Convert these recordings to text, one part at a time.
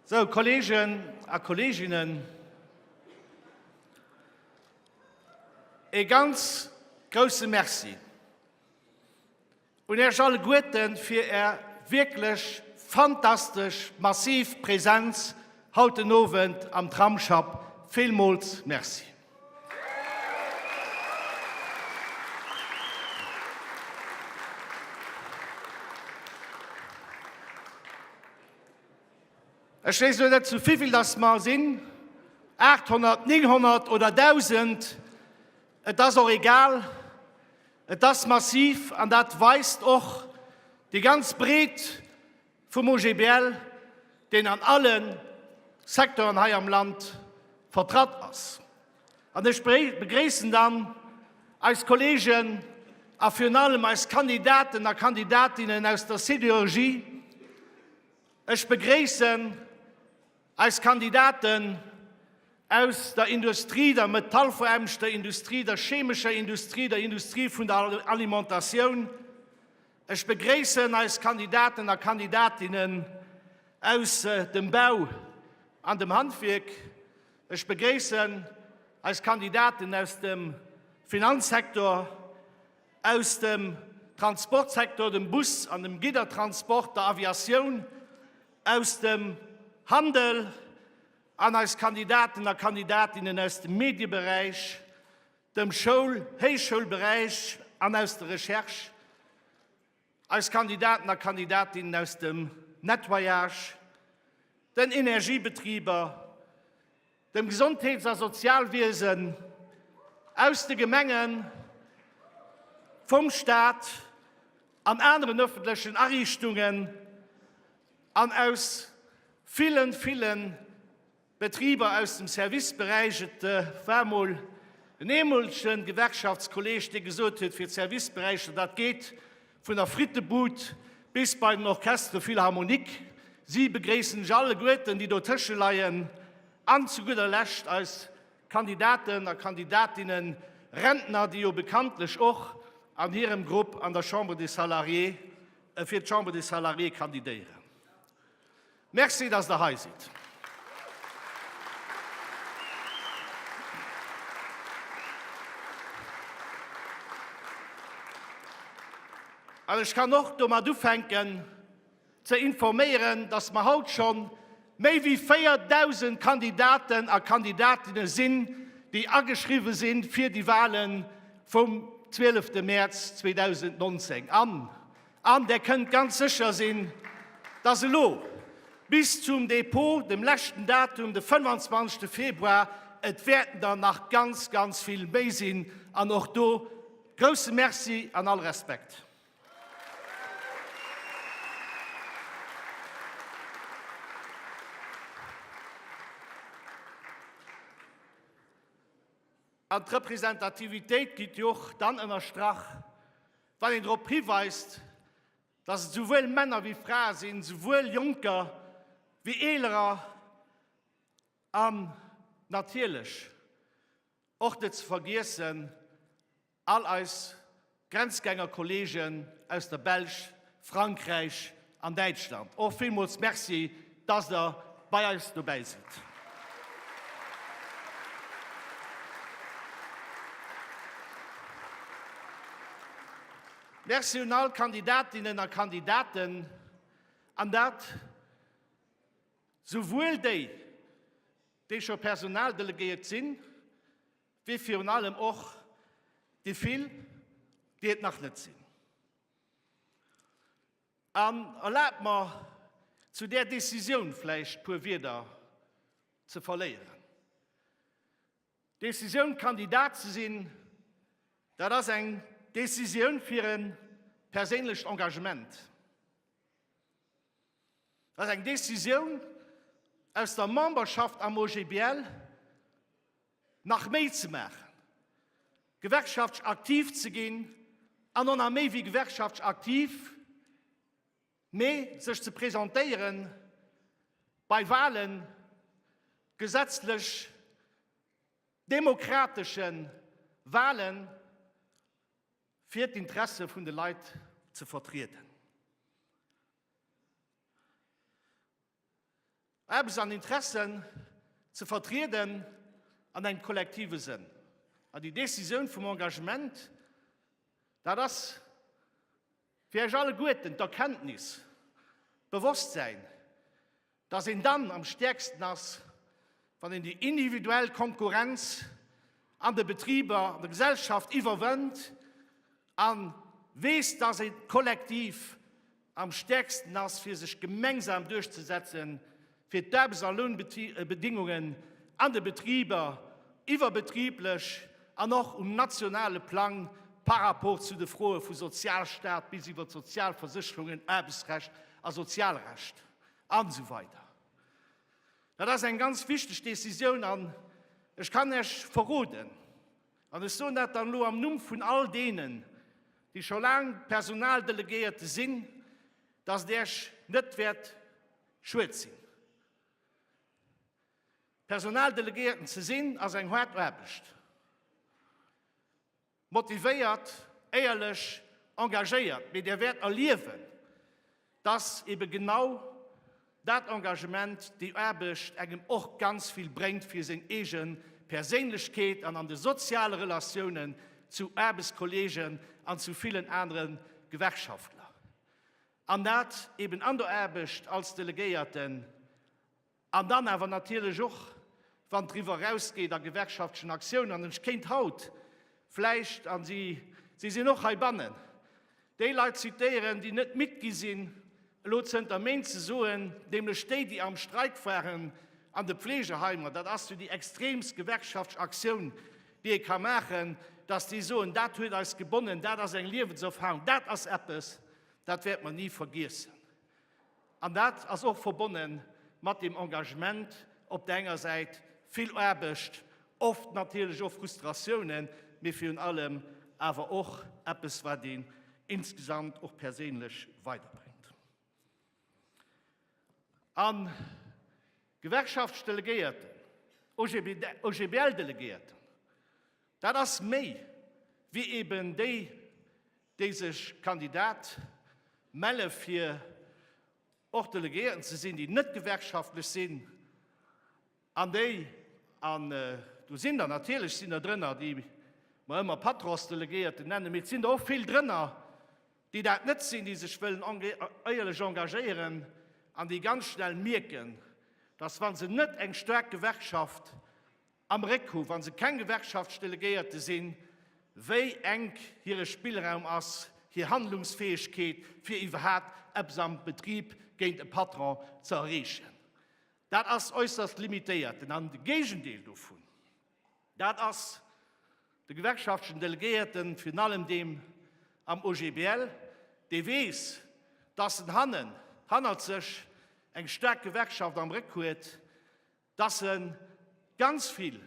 So, Kollegen a Kolleginnen, e ganz grouse Merci Un Iech alleguerten fir Är wierklech fantastesch massiv Präsenz haut den Owend am Tramsschapp. Villmools Merci. Ech weess elo net zu vivill dass mer sinn, 800, 900 oder 1000, et ass och egal. Et ass massiv an dat weist och déi ganz Breet vum OGBL, deen an alle Secteuren hei am Land vertratt ass. An ech begréissen dann eis Kolleegen a virun allem eis Kandidaten a Kandidatinnen aus der Sidérurgie. Ech begréissen, Eis Kandidaten aus der Industrie, der metallfoärmegter Industrie, der chemescher Industrie, der Industrie vun der Alimentatioun. Ech begréissen eis Kandidaten a Kandidatinnen aus dem Bau an dem Handwierk. Ech begréissen eis Kandidaten aus dem Finanzsektor, aus dem Transportsektor, dem Bus an dem Giddertransport, der Aviatioun. aus dem Handel an eis Kandidaten a Kandidatinnen aus dem Medieberäich, dem Schoul-, Héichschoulberäich an aus der Recherche, eis Kandidaten a Kandidatinnen aus dem Nettoyage, den Energiebetriber, dem Gesondheets a Sozialwiesen, aus de Gemengen, vum Staat an aneren öffentlechen Ariichtungen an aus ville, ville Betriber aus dem Serviceberäich. Et war emol en eemolege Gewerkschaftskolleeg, dee gesot huet, fir d'Serviceberäicher, dat geet, Vun der Frittebud bis bei den Orchestre Philharmonique, si begréissen iech alleguerten, déi dotësche leien, an zu gudder Lescht eis Kandidaten a Kandidatinnen, Rentner, déi jo bekanntlech och an hirem Grupp an der Chambre des Salariés, fir d'Chambre des Salariés kandidéieren. Merci dass der hei sidd. An ech kann och domat ufänken ze informéieren, dass mer haut scho méi wéi 4.000 Kandidaten a Kandidatinnen sinn, déi ageschriwwen sinn fir déi Wahlen vum 12 März 2019. An Der kënnt ganz sécher sinn, dass elo bis zum Dépôt, dem leschten Datum, de 25. Februar, et wäerten der nach ganz, ganz vill méi sinn, an och do grousse Merci an all Respekt. An d'Representativitéit gitt jo och dann ënnerstrach, Wann een drop hiweist, datt et souwuel Männer wéi Frae sinn, souwuel Jonker wéi Eelerer an natierlech och net ze vergiessen all eis Grenzgängerkolleegen aus der Belsch, Frankräich, an Däitschland. Och villmools Merci, dass Der bei eis dobäi sidd. Merci un all Kandidatinnen a Kandidaten, an dat souwuel déi, déi scho Personaldelegéiert sinn, wéi virun allem och déi vill, déi et nach net sinn. An erlaabt mer, zu där Décisioun vläicht puer Wieder ze verléieren. D'Décisioun, Kandidat ze sinn, dat ass eng Décisioun fir e perséinlecht Engagement. Dat ass eng Décisioun, aus der Memberschaft am OGBL, nach méi ze maachen, gewerkschaftsch aktiv ze ginn an och nach méi wéi gewerkschaftsch aktiv, mee sech ze presentéiere bei Wahlen, gesetzlech demokratesche Wahlen, fir d'Interesse vun de Leit ze vertrieden. Eppes an Interessen ze vertrieden an engem kollektive Sënn. An déi Décisioun vum Engagement, dat ass fir Iech alleguerten d'Erkenntnis, d'Bewosstsäin, dass een dann am stäerksten ass, wann een déi individuell Konkurrenz an de Betriber, an der Gesellschaft iwwerwënnt A weess, dass een kollektiv am stäerksten ass, fir sech gemeinsam duerchzesetzen, fir d'Aarbechts a Lounbedingungen an de Betriber iwwerbetriblech an och um nationale Plang par rapport zu de Froe vu Sozialstaat bis iwwer Sozialversécherungen, Aarbechtsrecht a Sozialrecht an esou weider Dat ass eng ganz wichteg Décisioun. An ech kann Iech verroden, An ech soen dat dann elo am Numm vun all deenen, déi scho laang Personaldelegéierte sinn, datt et Iech net wäert schued sinn. Personaldelegéierten ze sinn ass eng haart Aarbecht. Motivéiert, éierlech, engagéiert, mee Dir wäert erliewen, Dass ebe genau dat Engagement, déi Aarbecht engem och ganz vill bréngt fir seng eege Perséinlechkeet an an de soziale Relatiounen zu Aarbechtskolleegen an zu villen anere Gewerkschaftler. An dat eben an der Aarbecht als Delegéierten. An dann awer natierlech och, wann driwwer erausgeet a gewerkschaftlechen Aktiounen, an ech kéint haut vläicht, a si sinn och heibannen, déi Leit zitéieren, déi net midd gi sinn, elo zënter Méint ze soen, nämlech déi, déi am Streik waren an de Pflegeheimer, dat ass jo déi extremst gewerkschaftleche Aktioun, déi ee ka maachen, datt déi soen, dat huet eis gebonnen, dat ass eng Liewenserfarung, dat ass eppes, dat wäerte mer ni vergiessen. An dat ass och verbonne mat deem Engagement, op der enger Säit vill Aarbecht, oft natierlech och Frustratiounen, mee virun allem awer och eppes, wat een insgesamt och perséinlech weiderbréngt. A Gewerkschaftsdelegéierten, OGBL-Delegéierten, dat ass méi wéi eben déi déi sech Kandidat melle fir och Delegéierten ze sinn, déi net gewerkschaftlech sinn an déi, an do sinn der natierlech, sinn der drënner, déi mer ëmmer Patronsdelegéierten nennen, mee et sinn der och vill drënner, déi dat net sinn, déi sech wëllen éierlech engagéieren an déi ganz schnell mierken, dass wa se net eng staark Gewerkschaft am Réck hu wa se keng Gewerkschaftsdelegéierte sinn, wéi enk hire Spillraum ass, hir Handlungsfäegkeet, fir iwwerhaapt eppes am Betrib géint e Patron ze erreechen. Dat ass äusserst limitéiert. An de Géigendeel dovun, dat ass de gewerkschaftlechen Delegéierten, virun allem deem am OGBL, dee weess, dass en hannen, hannert sech eng staark Gewerkschaft am Réck huet, dass e ganz vill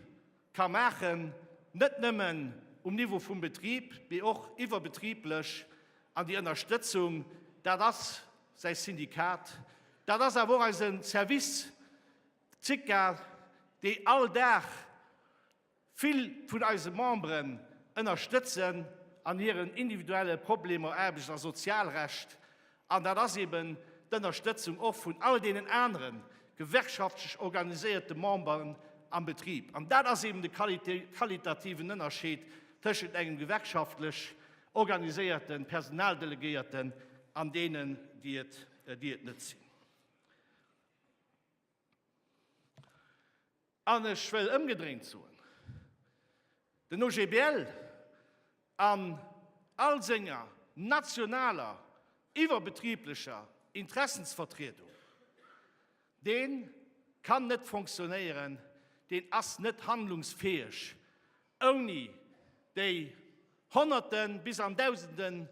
ka maachen, net nëmmen um Niveau vum Betrib, mee och iwwerbetriblech, an déi Ënnerstëtzung, dat ass säi Syndikat, dat ass awer och eise Service, d'Syca, déi all Dag Vill vun eise Memberen ënnerstëtzen an hiren individuelle Problemer Aarbechts a Sozialrecht, an dat ass eben d'Ënnerstëtzung och vun all deenen anere gewerkschaftlech organiséierte Memberen am Betrib. An dat ass eben de qualitativen Ënnerscheed tëschent engem gewerkschaftlech organiséierte Personaldelegéierten an deenen, déi et net sinn. An ech wëll ëmgedréint soen, Den OGBL an all senger nationaler iwwerbetriblecher Interessensvertriedung, dee kann net fonctionnéieren, deen ass net handlungsfäeg ouni déi Honnerten, bis an Dausenden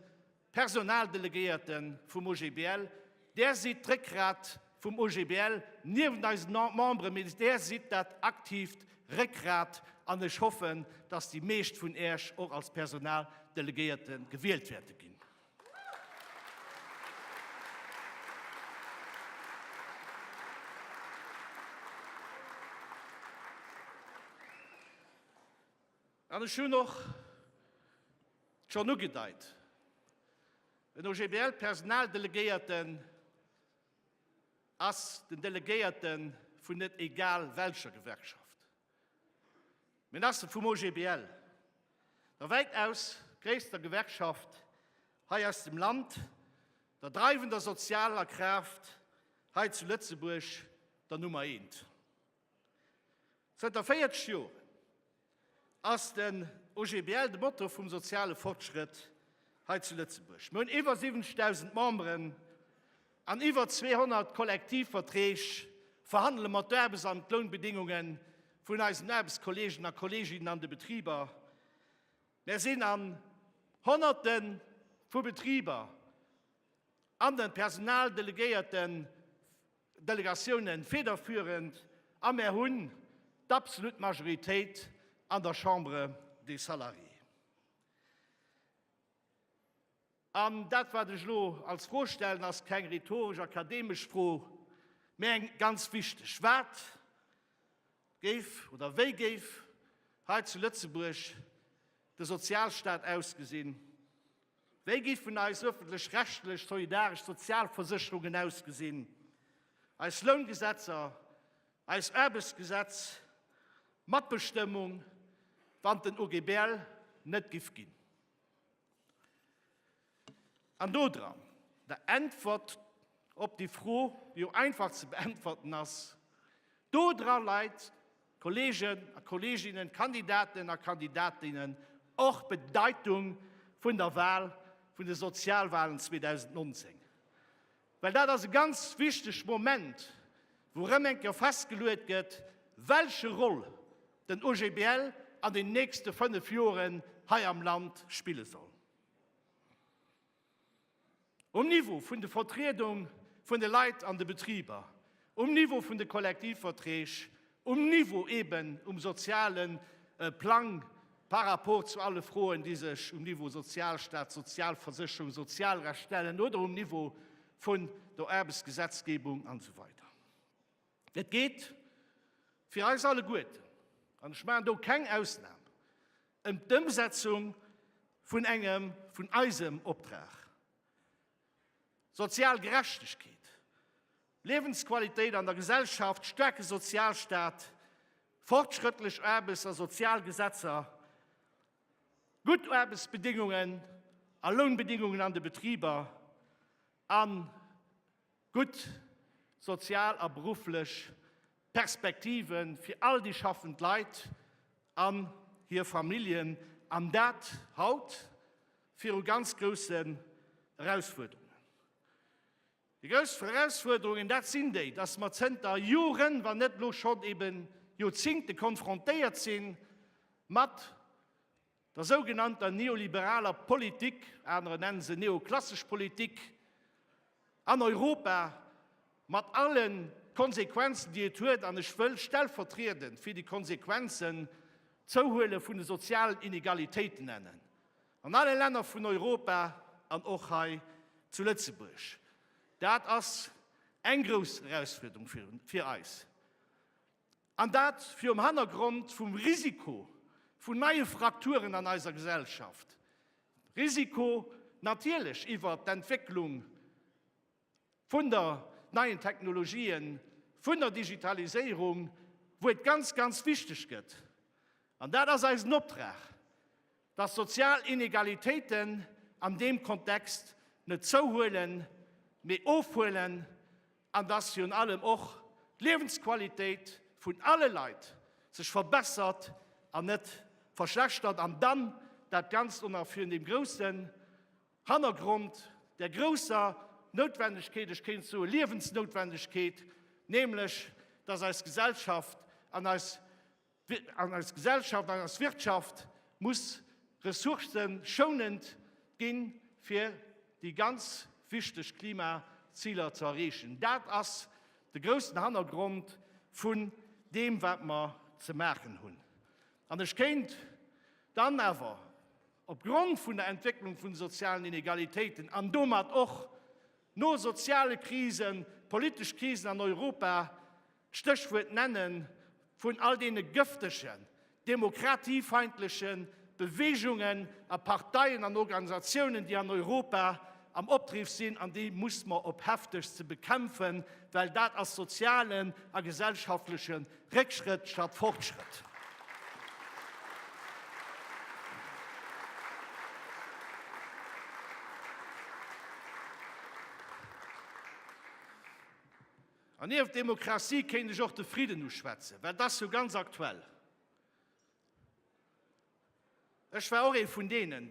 Personaldelegéierte vum OGBL, Där sidd d'Réckgrat vum OGBL, niewent eisen Membere, mee Där sidd dat aktiivt Réckgrat an ech hoffen, dass déi meescht vun Iech och als Personaldelegéierte gewielt wäerte ginn. An ech hunn och schonn ugedeit, En OGBL-Personaldelegéierte ass den Delegéierte vun net egal welcher Gewerkschaft, mä en ass e vum OGBL, der wäitaus gréisster Gewerkschaft hei aus dem Land, der dreiwender sozialer Kraaft hei zu Lëtzebuerg, der Nummer eent. Zënter 40 Joren ass den OGBL de Motor vum soziale Fortschrëtt hei zu Lëtzebuerg. Mir hunn iwwer 70.000 Memberen an iwwer 200 Kollektivverträg, verhandele mat d'Aarbechts an d'Lounbedingunge vun eisen Aarbechtskolleegen a Kolleeginnen an de Betriber. Mir sinn an Honnerte vu Betriber an de Personaldelegéierte Delegatiounen federführend a mär hunn d'absolut Majoritéit an der Chambre des Salariés. An dat, wat ech elo als Fro stellen, ass keng rhetoresch, akademesch Fro, mä eng ganz wichteg, Wat géif oder wéi géif hei zu Lëtzebuerg de Sozialstat ausgesinn, Wéi giffen eis ëffentlech-rechtlech solidaresch Sozialversécherungen ausgesinn, eis Loungesetzer, eist Aarbechtsgesetz, d'Matbestëmmung, wann den OGBL net giff ginn? An do dran, der Äntwert op déi Fro, déi jo einfach ze beäntwerten ass, do dra leit, Kolleegen a Kolleeginnen, d'Kandidaten a Kandidatinnen, och d'Bedeitung vun der Wahl, vun de Sozialwahlen 2019, well dat ass e ganz wichteg Moment, wou erëm eng Kéier festgeluet gëtt, welche Roll den OGBL an den nächste fënnef Joren hei am Land spille soll. Um Niveau vun de Vertriedung vun de Leit an de Betriber, um Niveau vun de Kollektivverträg, um Niveau eben um soziale Plang par rapport zu alle Froen, déi sech um Niveau Sozialstat, Sozialversécherung, Sozialrecht stellen oder um Niveau vun der Aarbechtsgesetzgebung an esou weider. Et geet fir eis alleguerten, an ech maachen do keng Ausnam, ëm d'Ëmsetzung vun engem vun eisem Optrag, sozial Gerechtegkeet, Liewensqualitéit an der Gesellschaft, staarke Sozialstaat, fortschrëttlech Aarbechts a Sozialgesetzer, gutt Aarbechtsbedingungen a Lounbedingungen an de Betriber, a gutt sozial a berufflech Perspektive fir all déi schaffend Leit an hir Familljen, an dat haut viru ganz groussen Erausfuerderungen. Déi grouss Erausfuerderungen, dat sinn déi, dass mer zënter Joren, wann net elo schonn ebe Joerzingte konfrontéiert si mat Der sougenannter neoliberaler Politik, anerer nennen se neoklassesch Politik, an Europa, mat allen Konsequenzen déi et huet, an ech wëll stellvertriedend fir déi Konsequenzen d'Zouhuele vun de sozialen Inegalitéiten nennen, an alle Länner vun Europa an och hei zu Lëtzebuerg. Dat ass eng grouss Erausfuerderung fir eis. An dat virum Hannergrond vum Risiko vun neie Frakturen an eiser Gesellschaft, Risiko natierlech iwwert d'Entwécklung vun der neien Technologien, vun der Digitaliséierung, wou et ganz, ganz wichteg gëtt, an dat ass eisen Optrag, dass sozial Inegalitéiten an deem Kontext net zouhuelen, mee ofhuelen. an dass virun allem och d'Liewensqualitéit vun alle Leit sech verbessert an net verschlechtert, an dann dat Ganzt och nach virun deem groussen Hannergrond der grousser Noutwendegkeet, ech kéint soe Liewensnoutwendegkeet, nämlech dass eis Gesellschaft an eis An eis Gesellschaft, an eis Wirtschaft muss ressourcëschounend ginn, fir déi ganz wichteg Klimaziler ze erreechen. Dat ass de groussen Hannergrond vun deem, wat mer ze maachen hunn. An ech kéint dann awer, opgrond vun der Entwécklung vun de sozialen Inegalitéiten an domat och No soziale Krisen, politesch Krisen an Europa, Stéchwuert nennen vun all deene gëftegen demokratiefeindleche Beweegungen a Parteien an Organisatiounen, déi an Europa am Opdriff sinn, an déi musse mer op heftegst ze bekämpfen, well dat ass sozialen a gesellschaftleche Réckschrëtt statt Fortschrëtt. An nieft Demokratie kéint ech och de Fridden uschwätzen, well dat ass jo ganz aktuell. Ech war och ee vun deenen,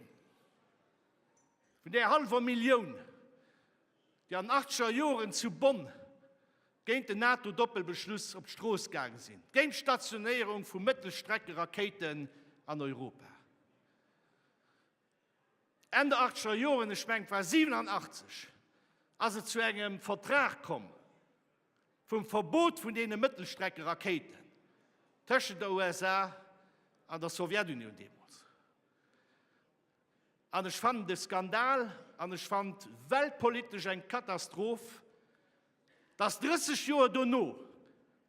vun där hallwer Millioun, déi an den achtzeger Joren zu Bonn géint den NATO-Doppelbeschluss op d'Strooss gaange sinn, géint d'Stationéierung vu Mëttelstreckerakéiten an Europa. Enn der achtzeger Joren, ech mengen et war 87, ass et zu engem Vertrag komm vum Verbot vun deene Mëttelstreckerakéiten tëschent der USA an der Sowjetunioun deemools. An ech fannen et e Skandal an ech fannen et weltpolitesch eng Katastroph, dass 30 Joer dono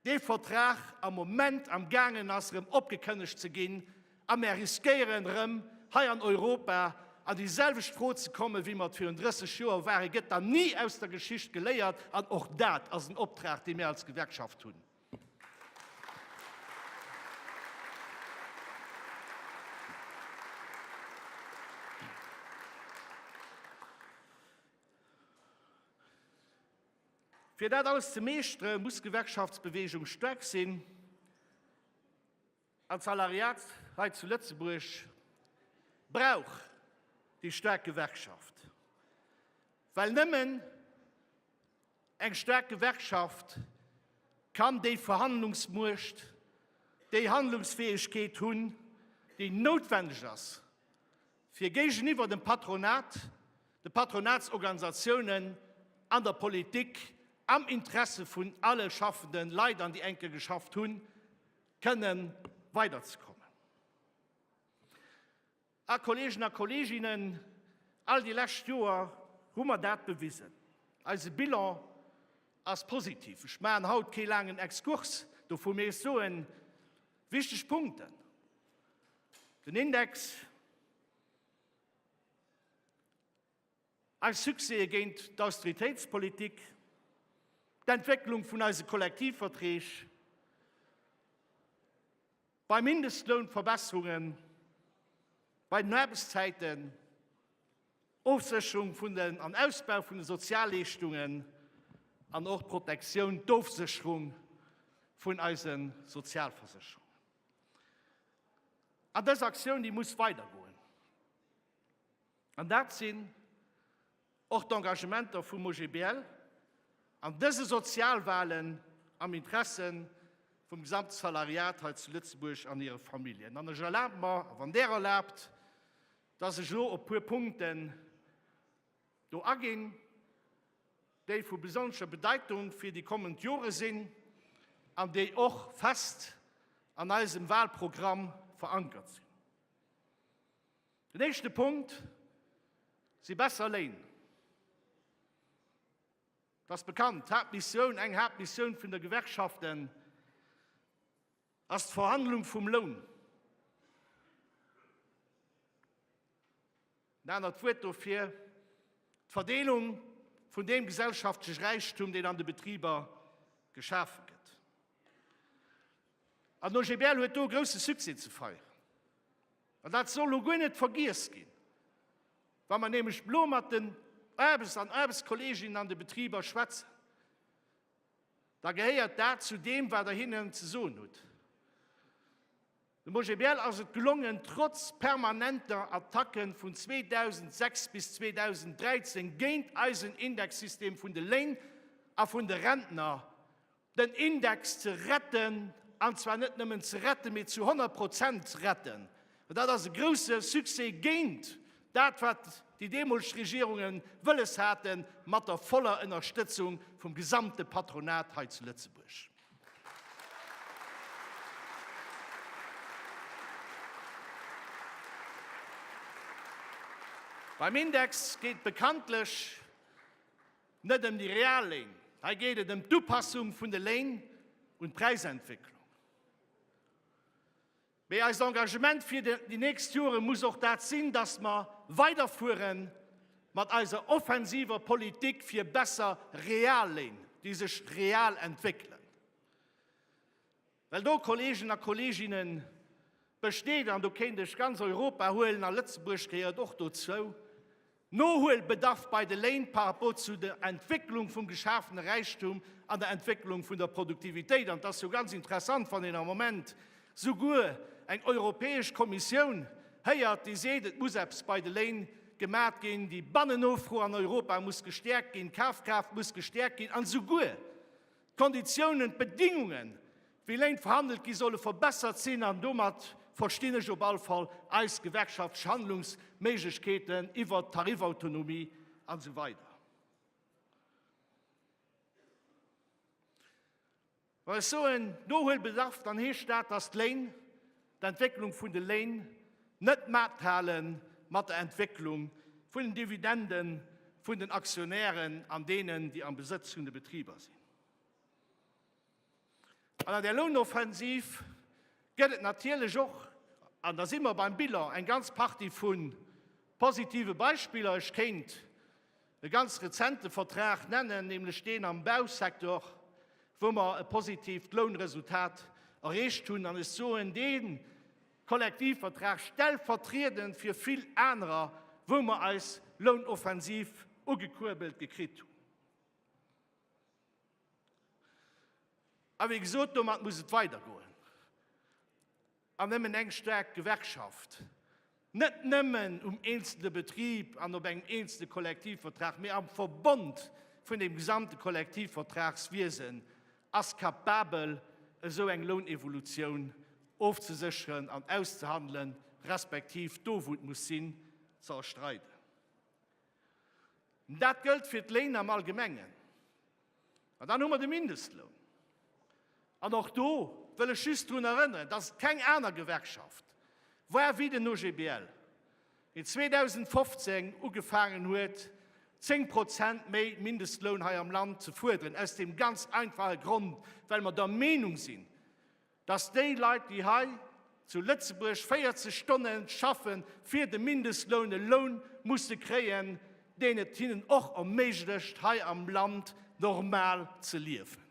dee Vertrag am Moment am gaangen ass erëm opgekënnegt ze ginn a mär riskéieren erëm hei an Europa an déi selwecht Fro ze kommen, wéi mer et virun 30 Joer waren. Gëtt dann ni aus der Geschicht geléiert? An och dat ass en Optrag, dee mir als Gewerkschaft hunn. Fir dat alles ze meeschtere muss d'Gewerkschaftsbeweegung staark sinn. An d'Salariat hei zu Lëtzebuerg brauch déi staark Gewerkschaft, well nëmmen eng staark Gewerkschaft kann déi Verhandlungsmuecht, déi Handlungsfäegkeet hunn, déi noutwendeg ass, fir géigeniwwer dem Patronat, de Patronatsorganisatiounen an der Politik am Interesse vun alle schaffende Leit, an déi enke geschafft hunn, kënne weiderzekommen. A Kolleegen a Kolleeginnen, all déi lescht Joer hu mer dat bewisen. Eise Bilan ass positiv. Ech maachen haut kee laangen Exkurs dovu, mee ech soen wichteg Punkten. Den Index, Eis Succèse géint d'Austeritéitspolitik, d'Entwécklung vun eise Kollektivverträg, bei Mindestloun Verbesserungen, bei den Aarbechtszäiten, Ofsécherung vun den an Ausbau vun de Sozialleeschtungen an och d'Protektioun, d'Ofsécherung vun eise Sozialversécherungen. An dës Aktioun, déi muss weidergoen. An dat sinn och d'Engagementer vum OGBL an dëse Sozialwahlen am Interesse vum gesamte Salariat hei zu Lëtzebuerg an hire Familljen. An ech erlabe mer, wann Der erlaabt, dass ech elo op puer Punkten do aginn, déi vu besonnescher Bedeitung fir déi kommend Jore sinn an déi och fest an eisem Wahlprogramm verankert sinn. Den éischte Punkt si besser Léin. Dat ass bekannt. D'Haaptmissioun, eng Haaptmissioun vun de Gewerkschaften ass d'Verhandlung vum Loun. En anert Wuert dofir, d'Verdeelung vun deem gesellschaftleche Räichtum, deen an de Betriber geschafe gëtt. An OGBL huet do e grousse Succès ze feieren. An dat soll elo guer net vergiess ginn, wa mer nämlech elo mat den Aarbechts an Aarbechtskolleginnen an de Betriber schwätzen, da gehéiert dat zu deem, wat Der hinnen ze soen hutt. Dem OGBL ass et gelongen, trotz permanenter Attacke vun 2006 bis 2013 géint eisen Indexsystem vun de Léin a vun de Rentner, den Index ze retten, an zwar net nëmmen ze retten, mee zu 100 Prozent ze retten. Well dat ass e grouse Succès géint dat, wat déi deemolteg Regierungen wëlles haten, mat der voller Ënnerstëtzung vum gesamte Patronat hei zu Lëtzebuerg. Beim Index geet bekanntlech Net ëm déi real Léin, hei geet et ëm d'Upassung vun de Léin un d'Präisentwécklung. Mee eist Engagement fir déi nächst Jore muss och dat sinn, dass mer weiderfuere mat eiser offensiver Politik fir besser real Léin, déi sech real entwéckelen. Well do, Kolleegen a Kolleeginnen, besteet, an do kéint ech ganz Europa huelen, a Lëtzebuerg gehéiert och dozou, Nohuelbedarf bei de Léin par rapport zu der Entwécklung vum geschafene Räichtum an der Entwécklung vun der Produktivitéit. An et ass jo ganz interessant, wann een am Moment souguer eng Europäesch Kommissioun héiert, déi seet, et muss eppes bei de Léin gemat ginn, déi Bannennofro an Europa muss gestäerkt ginn, d'Kafkraaft muss gestäerkt ginn, an souguer D'Konditiounen, d'Bedingungen, wéi Léin verhandelt gi solle verbessert sinn an domat verstinn ech op all Fall eis gewerkschaftlesch Handlungsméiglechkeeten iwwert d'Tarifautonomie an esou weider. Wa ech soen Nohuelbedarf, dann heescht dat, dass d'Léin d'Entwécklung vun de Léin net mathale mat der Entwécklung vun den Dividende vun den Aktionären an deenen, déi am Besëtz vun de Betriber sinn. An an där Lounoffensiv gëtt et natierlech och, an da si mer beim Bilan, eng ganz Partie vu positive Beispiller. Ech kéint E ganz rezente Vertrag nennen, nämlech deen am Bausektor, wou mer e positiivt Lounresultat erreecht hunn. An ech soen dee Kollektivvertrag stellvertriedend fir vill anerer, wou mer eis Lounoffensiv ugekuerbelt gekritt hunn. A wéi gesot, domat muss et weidergoen. An nëmmen eng staark Gewerkschaft, net nëmmen um eenzelne Betrib an op engem eenzelne Kollektivvertrag, mee am Verbond vun dem gesamte Kollektivvertragswiesen, ass kapabel, esou eng Lounevolutioun ofzesécheren an auszehandelen, respektiv, do wou et muss sinn, ze erstreiden. Dat gëllt fir d'Léin am Allgemengen. An dann hu mer de Mindestloun. An och do wëll ech just drun erënneren, dass et keng aner Gewerkschaft war wéi den OGBL, deen 2015 ugefaangen huet, zéng Prozent méi Mindestloun hei am Land ze fuerderen, aus deem ganz einfache Grond, well mer der Meenung sinn, dass déi Leit, déi hei zu Lëtzebuerg 40 Stonne schaffe fir de Mindestloun, e Loun musse kréien, deen et hinnen och erméiglecht, hei am Land normal ze liewen.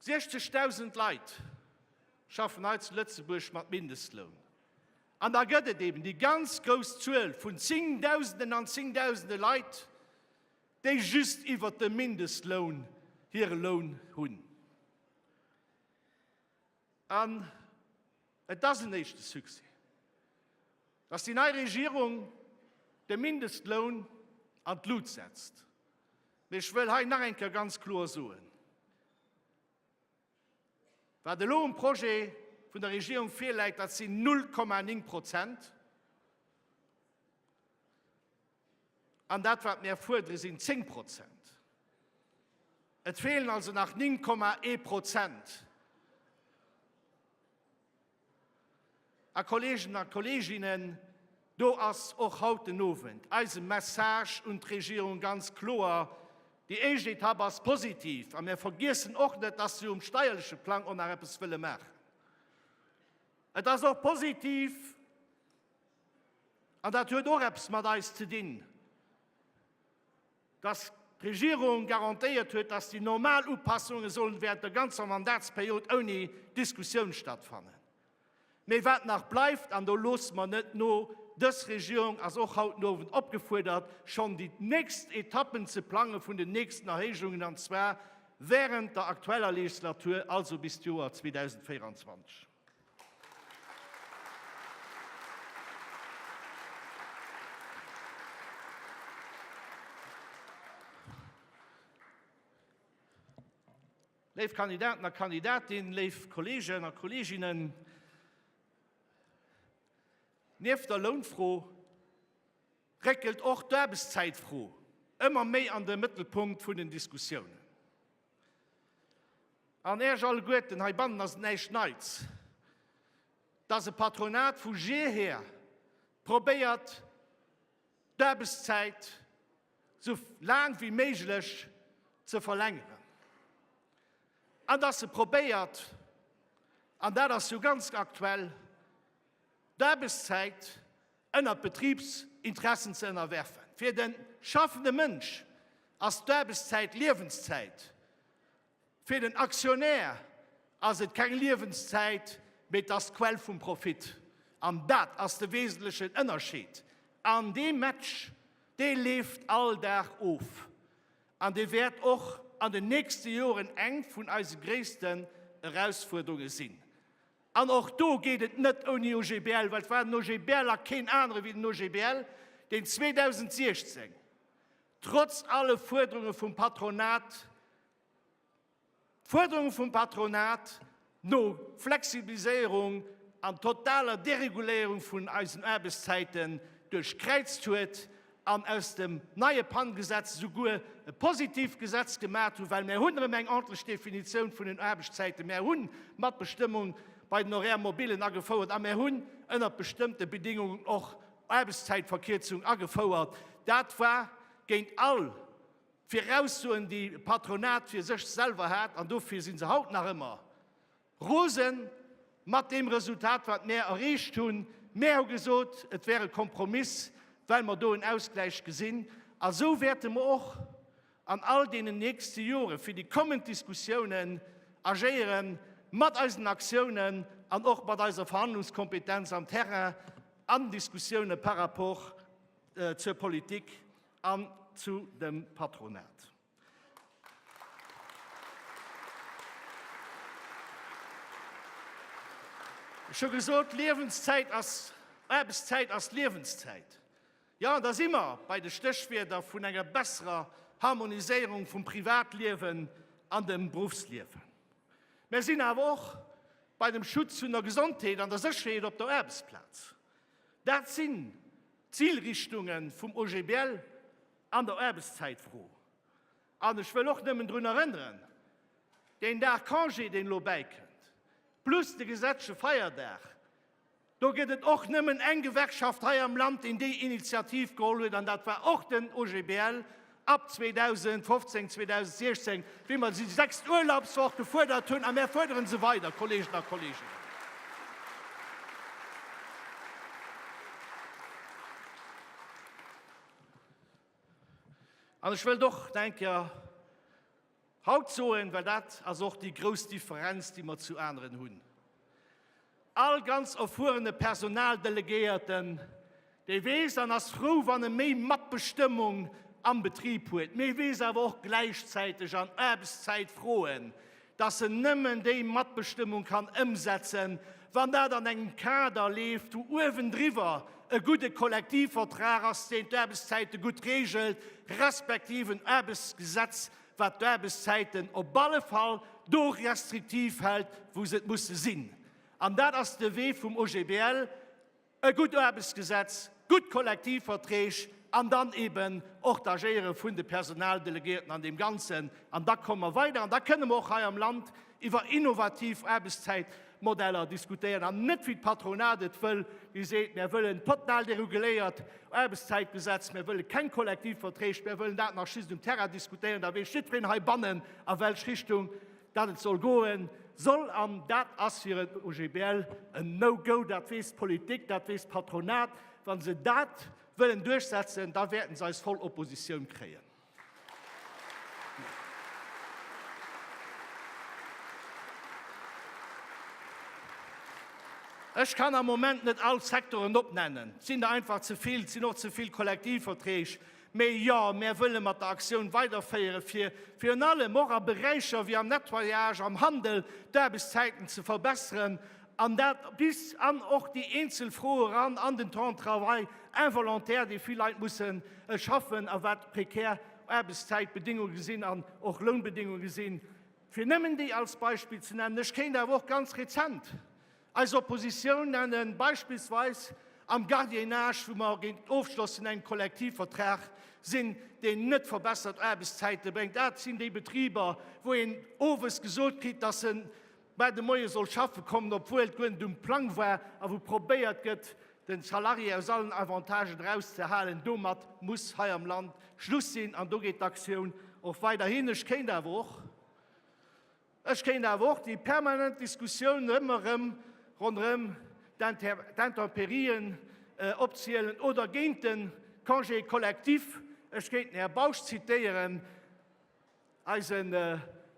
60.000 Leit schaffen hei zu Lëtzebuerg mat Mindestloun. An da gëtt et eben déi ganz grouss Zuel vun Zéngdausenden an Zéngdausende Leit, déi just iwwert de Mindestloun hire Loun hunn. An et ass en éischte Succès, dass déi nei Regierung de Mindestloun an d'Lut setzt. Mee ech wëll hei nach eng Kéier ganz kloer soen, Wat elo um Projet vun der Regierung virläit, dat sinn 0,9 Prozent. An dat wat mär fuerdere sinn 10 Prozent. Et feelen also nach 9,1 Prozent. A Kolleegen a Kolleeginnen, do ass och haut den Owend eise Message un d'Regierung ganz kloer, Déi éischt Etapp ass positiv a mär vergiessen och net, dass mir um steierleche Plang och nach eppes wëlle maachen. Et ass och positiv, An dat huet och eppes mat eis ze dinn, dass d'Regierung garantéiert huet, dass déi normal Upassunge sollen während der ganzer Mandatsperiod ouni Diskussioun stattfannen. Mee wat nach bleift, an do loosse mer net no, Dës Regierung ass och haut den Owend opgefuerdert, schonn déi nächst Etappen ze plange vun den nächsten Erhéijungen, an zwar während der aktueller Legislatur, also bis d'Joer 2024. Léif Kandidaten a Kandidatinnen, léif Kolleegen a Kolleeginnen, nieft der Lounfro réckelt och d'Aarbechtszäitfro ëmmer méi an de Mëttelpunkt vun den Diskussiounen. An Äech alleguerten heibannen ass et näischt Neits, dass e Patronat vu jeher probéiert, d'Aarbechtszäit sou laang wéi méiglech ze verlängeren an dass e probéiert, an dat ass jo ganz aktuell, d'Aarbechtszäit ënnert d'Betribsinteressen ze ënnerwerfen. Fir de schaffende Mënsch ass d'Aarbechtszäit Liewenszäit, fir den Aktionär ass et keng Liewenszäit, mee et ass d'Quell vum Profit. An dat ass de wesentlechen Ënnerscheed. An dee Match, dee leeft all Dag of an dee wäert och an den nächste Joren eng vun eise gréissten Erausfuerderunge sinn. An och do geet et net ouni OGBL, well et war den OGBL a keen anere wéi den OGBL, deen 2016, trotz alle Fuerderunge vum Patronat, d'Fuerderunge vum Patronat no Flexibiliséierung an totaler Dereguléierung vun eisen Aarbechtszäiten duerchkräizt huet an aus dem neie PAN-Gesetz esouguer e positiivt Gesetz gemat hunn, well mär hunn erëm eng ordnlech Definitioun vun den Aarbechtszäiten, mär hunn d'Matbestëmmung bei den Horaires mobilen agefouert a mär hunn ënnert bestëmmte Bedingungen och Aarbechtszäitverkierzung agefouert. Dat war géint all d'Viraussoen, déi e Patronat fir sech selwer hat, an dofir si se haut nach ëmmer Rosen mat deem Resultat, wat mär erreecht hunn. Mär hu gesot, et wär e Kompromiss, well mer do en Ausgläich gesinn. A sou wäerte mer och an all deenen nächste Jore fir déi kommend Diskussiounen agéiere mat eisen Aktiounen an och mat eiser Verhandlungskompetenz am Terrain an Diskussioune par rapport zur Politik an zu dem Patronat. Ech hu gesot, Liewenszäit ass Aarbechtszäit ass Liewenszäit. Jo, da si mer bei de Stéchwierder vun enger besserer Harmoniséierung vum Privatliewen an dem Beruffsliewen. Mir sinn awer och bei dem Schutz vun der Gesondheet an der Sécherheet op der Aarbechtsplaz. Dat sinn d'Zilrichtungen vum OGBL. An der Aarbechtszäitfro, an ech wëll och nëmmen drun erënneren, deen Dag Congé, deen elo bäikënnt, plus de gesetzleche Feierdag, do gëtt et och nëmmen eng Gewerkschaft hei am Land, déi déi Initiativ geholl huet, an dat war och den OGBL ab 2015, 2016, wéi mer déi sechst Urlaubswoch gefuerdert hunn. A mär fuerdere se weider, Kolleegen a Kolleeginnen. An ech wëllt och Denker haut soen, well dat ass och déi grouss Differenz, déi mer zu aneren hunn. All ganz erfuerene Personaldelegéierten, dee weess an ass frou, wann e méi Matbestëmmung am Betrib huet, mee weess awer och gläichzäiteg an Aarbechtszäitfroen, dass en nëmmen déi Matbestëmmung kann ëmsetzen, wann dat an engem Kader leeft, wou uewendriwwer e gudde Kollektivvertrag ass, deen d'Aarbechtszäite gutt reegelt, respektiv en Aarbechtsgesetz, wat d'Aarbechtszäiten op alle Fall do restriktiv hält, wou se et musse sinn. An dat ass de Wee vum OGBL. e gutt Aarbechtsgesetz, gutt Kollektivverträg an dann eeben och d'Agéiere vun de Personaldelegéierten an deem Ganzen. An da komme mer weider an da kënne mer och hei am Land iwwer innovativ Aarbechtszäitmodeller diskutéieren an net wéi d'Patronat et wëll, déi seet, Mir wëllen e total dereguléiert Aarbechtszäitgesetz, mir wëlle keng Kollektivverträg, mir wëllen dat nach just um Terrain diskutéieren, da weess jiddwereen heibannen, a welch Richtung Dat et soll goen, soll an dat ass fir en OGBL en No Go. Dat weess d'Politik, dat weess d'Patronat. Wa se dat wëllen duerchsetzen, da wäerten se eis voll Oppositioun kréien. Ech kann am Moment net all d'Secteuren opnennen, et sinn der einfach ze vill, et sinn och ze vill Kollektivverträg. Mee jo, mär wëlle mat der Aktioun weiderféiere fir virun allem och a Beräicher wéi am Nettoyage, am Handel d'Aarbechtszäiten ze verbesseren, an dat bis an och déi eenzel Froe ran an den Temps de travail involontaire, dee vill Leit mussen schaffen a wat prekär Aarbechtszäitbedéngunge sinn an och Lounbedéngunge sinn, fir nëmmen déi als Beispill ze nennen. Ech kéint awer och ganz rezent Eis Oppositioun nennen beispillsweis am Gardiennage, wou mer géint d'Ofschloss vun engem Kollektivvertrag sinn, deen net verbessert Aarbechtszäite bréngt. Dat sinn déi Betriber, wou een owes gesot kritt, dass se bal de Moie soll schaffe kommen, obwuel et guer net um Plang war, a wou probéiert gëtt, de Salarié aus allen Avantagen erauszehalen. Domat muss hei am Land Schluss sinn, an do geet d'Aktioun och weiderhin. Ech kéint awer och. Ech kéint awer och déi permanent Diskussioun ëmmer erëm ronderëm d'Intemperien opzielen oder géint de Congé collectif. Ech kéint den Här Bausch zitéieren, eise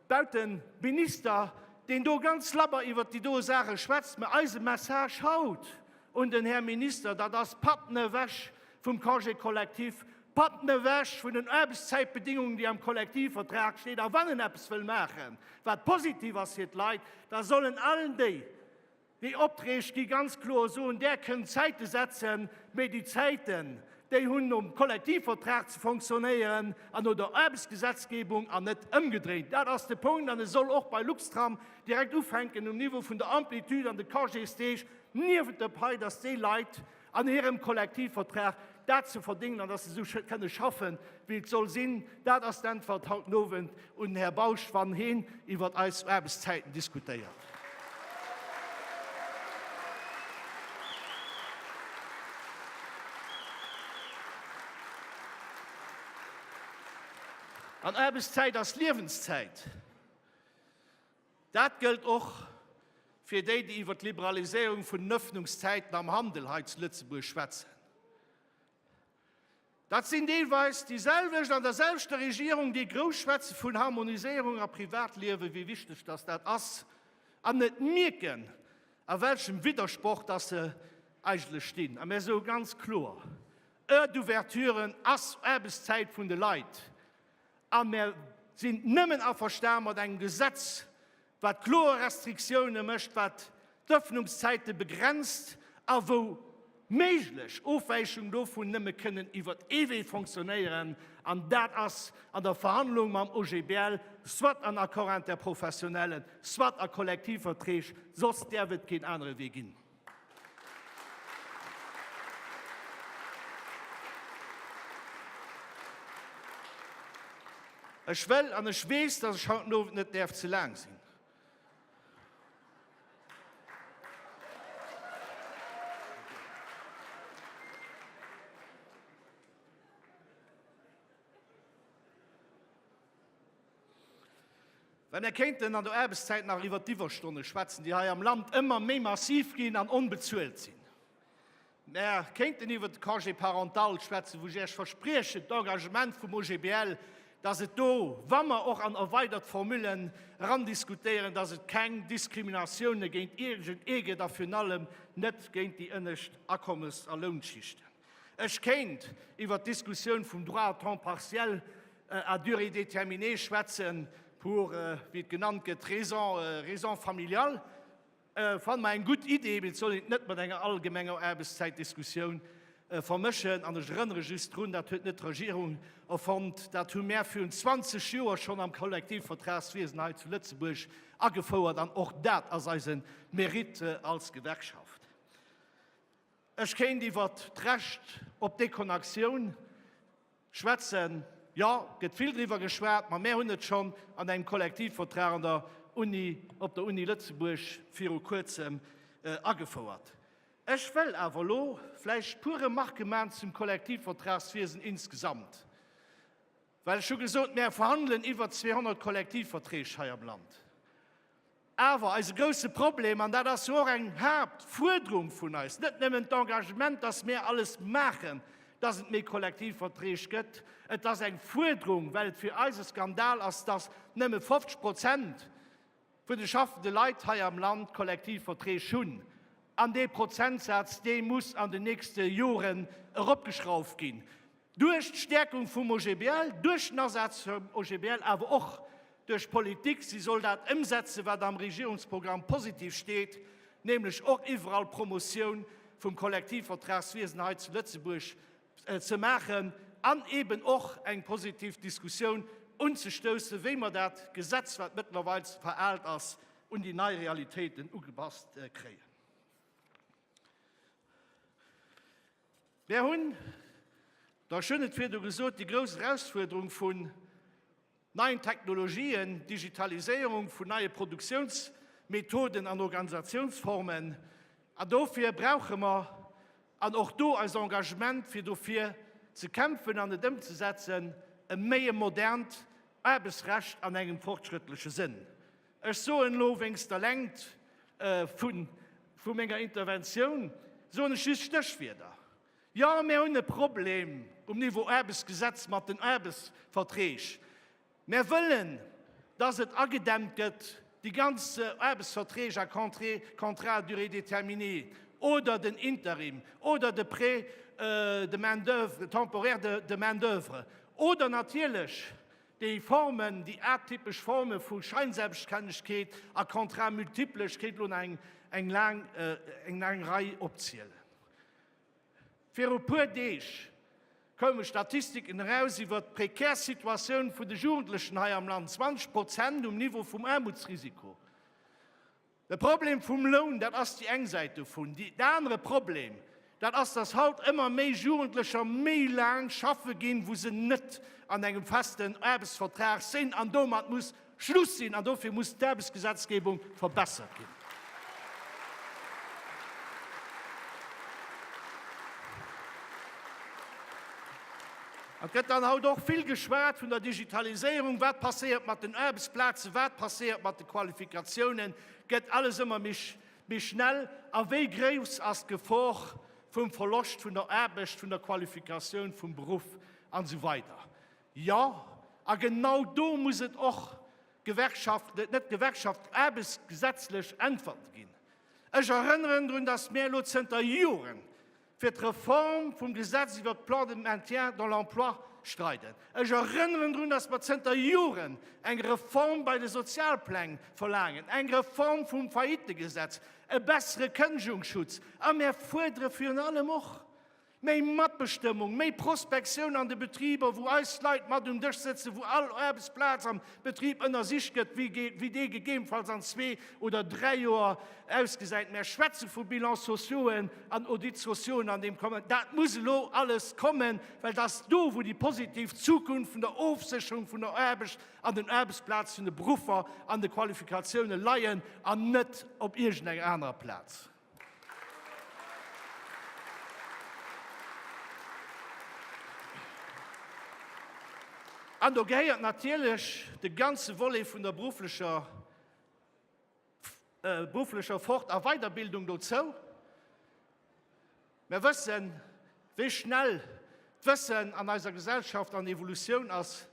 Bauteminister, deen do ganz labber iwwert déi do Saache schwätzt. Mä eise Message haut un den Här Minister, dat ass, Patten ewech vum Congé collectif, Patten ewech vun den Aarbechtszäitbedingungen, déi am Kollektivvertrag steet. A wann en eppes wëll maachen, wat positiv ass fir d'Leit, da soll en allen déi, déi Opträg gi ganz kloer soen, Där kënnt Zäite setzen, mee déi Zäiten, déi hunn nom Kollektivvertrag ze fonctionnéieren an no der Aarbechtsgesetzgebung an net ëmgedréint. Dat ass de Punkt. An e soll och bei Luxtram direkt ufänken um Niveau vun der Amplitude an de Congésdeeg niewent der Pai, dass déi Leit, an hirem Kollektivvertrag dat ze verdingen an dass se esou kënne schaffen, wéi et soll sinn. Dat ass d'Äntwert haut den Owend un den Här Bausch, wann heen iwwert eis Aarbechtszäiten diskutéiert. An Aarbechtszäit ass Liewenszäit. Dat gëllt och fir déi, déi iwwer d'Liberaliséierung vun den Ëffnungszäiten am Handel hei zu Lëtzebuerg schwätzen. Dat sinn deelweis déi selwecht an der selwechter Regierung, déi grouss schwätze vun Harmoniséierung a Privatliewen, wéi wichteg dass dat ass, an net mierken, a welchem Widdersproch dass se eigentlech stinn. A mir soe ganz kloer, Heure d'ouverture ass Aarbechtszäit vun de Leit. A mär sinn nëmmen averstan mat engem Gesetz, wat kloer Restriktioune mécht, wat d'Ëffnungszäite begrenzt a wou méiglech Ofwäichungen dovun nëmme kënnen iwwer ee Wee fonctionnéieren, an dat ass an der Verhandlung mam OGBL, soit an Accord interprofessionnellen, soit a Kollektivverträg, soss däerf et keen anere Wee ginn. Ech wëll an ech weess, dass ech haut den Owend net däerf ze laang sinn. Wa mir kéinten an der Aarbechtszäit nach iwwer d'Iwwerstonne schwätzen, déi hei am Land ëmmer méi massiv ginn an onbezuelt sinn. Mir kéinten iwwer de Congé parental schwätzen, wou ech Iech verspriechen, d'Engagement vum OGBL, dass et do, wa mer och an erweidert Formullen erandiskutéieren, dass et keng Diskriminatioune géint iergendee gëtt a virun allem net géint déi ënnescht Akommes a Lounschichten. Ech kéint iwwer d'Diskussioun vum Droit à temps partiel à durée déterminée schwätzen, pour, wéi et genannt gëtt, raison, raisons familiales. Ech fanne mer eng gutt Idee, mee et soll een et net mat enger allgemenger Aarbechtszäitdiskussioun vermëschen. An ech erënnere just drun, dat huet net d'Regierung erfonnt, dat hu mär virun 20 Joer schonn am Kollektivvertragswiesen hei zu Lëtzebuerg agefouert an och dat ass eise Mérite als Gewerkschaft. Ech kéint iwwert d'Recht op Deconactioun schwätzen. Jo, gëtt vill driwwer geschwat, ma mär hunn et schonn an engem Kollektivvertrag an der Uni, op der Uni Lëtzebuerg viru Kuerzem agefouert. Ech wëll awer elo vläicht puer Remarque man zum Kollektivvertragswiesen insgesamt. Well ech hu gesot, mär verhandelen iwwer 200 Kollektivverträg hei am Land. Awer eise grouse Problem, an dat ass jo och eng Haaptfuerderung vun eis, net nëmmen d'Engagement, dass mär alles maachen, dass et méi Kollektivverträg gëtt, et ass eng Fuerderung, well et fir eis e Skandal ass, dass nëmme 50 Prozent vun de schaffende Leit hei am Land Kollektivverträg hunn, an dee Prozentsaz, dee muss an den nächste Joren eropgeschrauft ginn, duerch d'Stäerkung vum OGBL, duerch den Asaz vum OGBL, awer och duerch d'Politik, si soll dat ëmsetzen, wat am Regierungsprogramm positiv steet, nämlech och iwwerall d'Promotioun vum Kollektivvertragswiesen hei zu Lëtzebuerg. ze maachen an eben och eng positiv Diskussioun unzestoussen, wéi mer dat Gesetz, wat mëttlerweils veraalt ass, un déi nei Realitéiten ugepasst kréien. Mär hunn, ech hunn et virdu gesot, déi grouss Erausfuerderung vun, neien Technologien, Digitaliséierung, vun neie Produktiounsmethoden an Organisationsformen. An dofir brauche mer, an och do eist Engagement fir dofir ze kämpfen an et ëmzesetzen, e méi e modernt Aarbechtsrecht an engem fortschrëttleche Sënn. Ech soen elo wéinst der Längt vu menger Interventioun soen ech just Stéchwierder. Jo, mär hunn e Problem um Niveau Aarbechtsgesetz mat den Aarbechtsverträg. Mär wëllen, dass et agedämmt gëtt, déi ganz Aarbechtsverträg à contrat à durée déterminée oder den Interim oder de Prêt de main d'oeuvre, temporaire de main d'oeuvre, oder natierlech déi Formen, déi atypesch Forme vu Scheinselbststännegkeet a Contrat multiple, ech kéint elo nach eng laang Rei opzielen. Viru puer Deeg koume Statistiken eraus iwwer d'prekär Situatioun vun de Jugendlechen hei am Land, 20 Prozent um Niveau vum Aarmutsrisiko. De Problem vum Loun, dat ass déi eng Säit dovun. Déi anere Problem, dat ass, dass haut ëmmer méi Jugendlecher méi laang schaffe ginn, wou se net an engem festen Aarbechtsvertrag sinn an domat muss Schluss sinn an dofir muss d'Aarbechtsgesetzgebung verbessert ginn. Et gëtt dann haut och vill geschwat vun der Digitaliséierung. Wat passéiert mat den Aarbechtsplazen? Wat passéiert mat de Qualifikatiounen? Gëtt alles ëmmer méi schnell? A wéi grouss ass d'Gefor vum Verloscht vun der Aarbecht, vun der Qualifikatioun, vum Beruff an esou weider? Jo, a genau do muss et och Gewerkschaften, net d'Gewerkschaften, aarbechtsgesetzlech Äntwerte ginn. Ech erënneren drun, datt mir elo zënter Joren fir d'Reform vum Gesetz iwwert d'Plans de maintien dans l'emploi streiden. Ech erënneren drun, datt mir zënter Joren eng Reform bei de Sozialpläng verlaangen, eng Reform vum Faillitegesetz, e bessere Kënnegungsschutz. A mir fuerdere virun allem och, Méi Matbestëmmung, méi Prospektioun an de Betriber, wou eis Leit mat um Dësch sëtzen, wou all Aarbechtsplaz am Betrib ënnersicht gëtt, wéi dee gegebenfalls an zwee oder dräi Joer ausgesäit. Mär schwätze vu Bilans sociauxen an Audits sociauxen an deem Kontext. Dat muss elo alles kommen, well dat ass do, wou déi positiv Zukunft vun der Ofsécherung vun der Aarbecht an den Aarbechtsplaz, vun de Beruffer an de Qualifikatiounen leien an net op iergendenger anerer Plaz. An do gehéiert natierlech de ganze Volet vun der berufflecher berufflecher Fort a Weiderbildung dozou. Mer wëssen, wéi schnell d'Wëssen an eiser Gesellschaft an Evolutioun ass.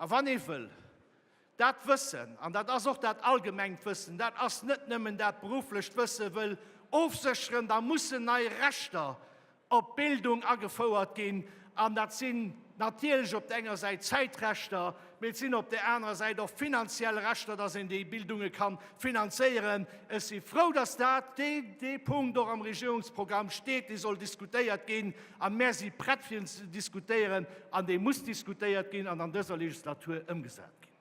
A wann ee wëll dat Wëssen, an dat ass och dat allgemengt Wëssen, dat ass net nëmmen dat berufflecht Wëssen, wëll ofsécheren, da mussen nei Rechter op d'Bildung agefouert ginn. An dat sinn natierlech op der enger Säit Zäitrechter, Mee et sinn op där anerer Säit och finanziell Rechter, dass een déi Bildunge ka finanzéieren. Ech si frou, dass dat, dee, dee Punkt och am Regierungsprogramm steet, dee soll diskutéiert ginn. A mär si prett fir en ze diskutéieren an dee muss diskutéiert ginn an an dëser Legislatur ëmgesat ginn.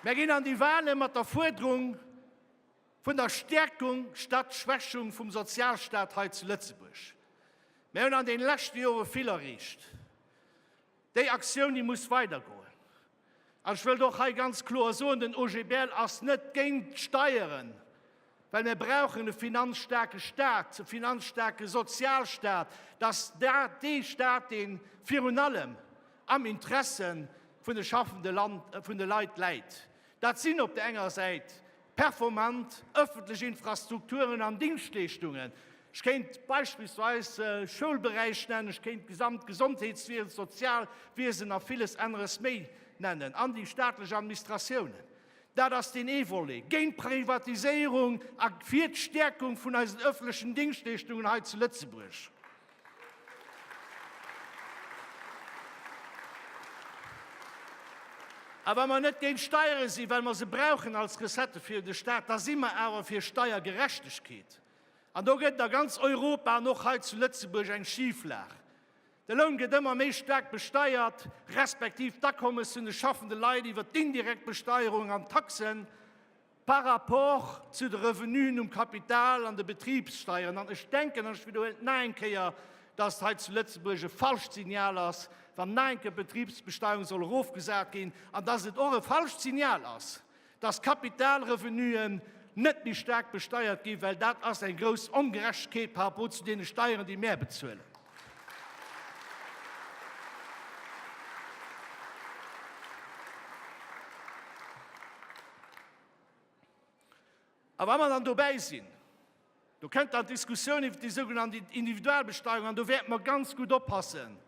Mär ginn an déi Wale mat der Fuerderung, Vun der Stärkung statt Schwächung vum Sozialstaat hei zu Lëtzebuerg. Mir hunn an den leschte Jore vill erreecht. Déi Aktioun, déi muss weidergoen. An ech wëllt och hei ganz kloer soen, den OGBL ass net géint d'Steieren, well mir brauchen e finanzstaarke Staat, e finanzstaarke Sozialstaat, dass dat dee Staat, dee virun allem am Interesse vun de schaffende Leit läit. Dat sinn op der enger Säit Performant ëffentlech Infrastrukturen an Dingschtleeschtungen, ech kéint beispillsweis de Schoulberäich nennen, ech kéint d'gesamt Gesondheetswiesen, d'Sozialwiesen a villes aneres méi nennen, an déi staatlech Administratiounen. Dat ass deen ee Volet. Géint d'Privatiséierung a fir d'Stäerkung vun eisen ëffentlechen Dingschtleeschtungen hei zu Lëtzebuerg. A wa mer net géint Steiere sinn, well mer se brauchen als Recettë fir de Staat, da si mer awer fir Steiergerechtegkeet. An do gëtt et a ganz Europa an och hei zu Lëtzebuerg eng Schiflag. De Loun gëtt ëmmer méi staark besteiert, respektiv d'Akommes vun de schaffende Leit iwwer d'indirekt Besteierung an d'Taxen. par rapport zu de Revenuen um Kapital an de Betribssteieren. An ech denken, an ech widderhuelen et nach eng Kéier, dass et hei zu Lëtzebuerg e falscht Signal ass, wann nach eng Kéier d'Betribsbesteuerung soll erofgesat ginn, an dass et och e falscht Signal ass, dass Kapitalrevenuen net méi staark besteiert ginn, well dat ass eng grouss Ongerechtegkeet par rapport zu deene Steieren, déi mär bezuelen. A wa mer dann dobäi sinn, do kënnt dann d'Diskussioun iwwer déi sougenannte Individualbesteuerung an do wäerte mer ganz gutt oppassen,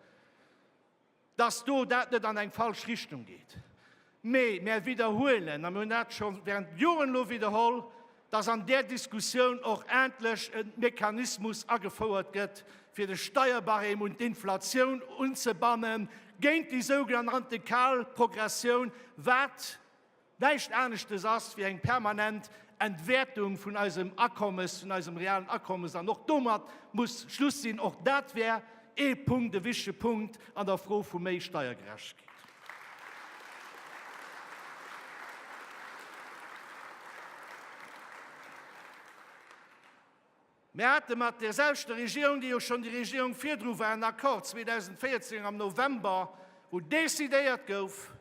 dass do dat net an eng falsch Richtung geet, mee mär widderhuelen, a mir hunn dat scho während Joren elo widderholl, dass an där Diskussioun och endlech e Mechanismus agefouert gëtt, fir de Steierbarème un d'Inflatioun unzebannen, géint déi sougenannte kal Progressioun, wat, näischt aneschtes ass wéi eng permanent Entwäertung vun eisem Akommes, vun eisem realen Akommes, an och domat muss Schluss sinn. Och dat wär ee Punkt, e wichtige Punkt an der Fro vu méi Steiergerechtegkeet. Mir hate mat deerselwechter Regierung, déi jo schonn déi Regierung virdru war, en Accord 2014 am November, wou decidéiert gouf,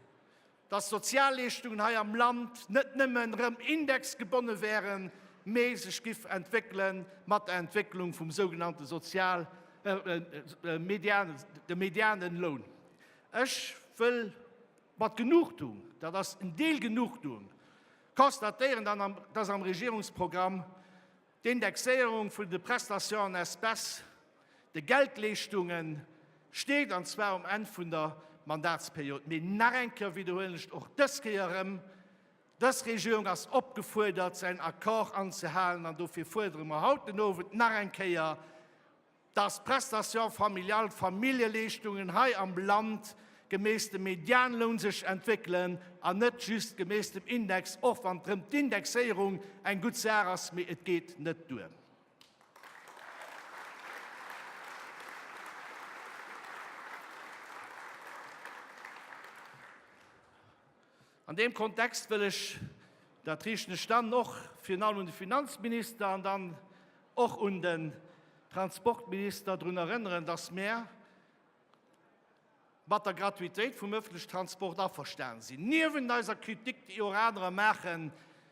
dass d'Sozialleeschtungen hei am Land net nëmmen erëm indexgebonne wäeren, mee sech giff entwéckele mat der Entwécklung vum sougenannte Sozial-, Median, dem Medianenloun. Ech wëll mat Genugtuung, dat ass en Deel Genugtuung, constatéieren, dass am Regierungsprogramm D'Indexéierung vun de Prestations en espèces, de Geldleeschtungen, steet, an zwar um Enn vun der Mandatsperiod. Mee nach eng Kéier widderhuelen ech och dës Kéier erëm, Dës Regierung ass opgefuerdert, säin Accord anzehalen, an dofir fuerdere mer haut den Owend nach eng Kéier, dass d'Prestation familiale, d'Familljeleeschtungen hei am Land gemäss dem Medianloun sech entwéckelen an net just gemäss dem Index, och wann d'rëm d'Indexéierung eng gutt Saach ass, mee et geet net duer. An deem Kontext wëll ech, dat riichten ech dann och virun allem un de Finanzminister an dann och un den Transportminister, drun erënneren, dass mär mat der Gratuitéit vum öffentliche Transport averstanen sinn, niewent eiser Kritik, déi och anerer maachen,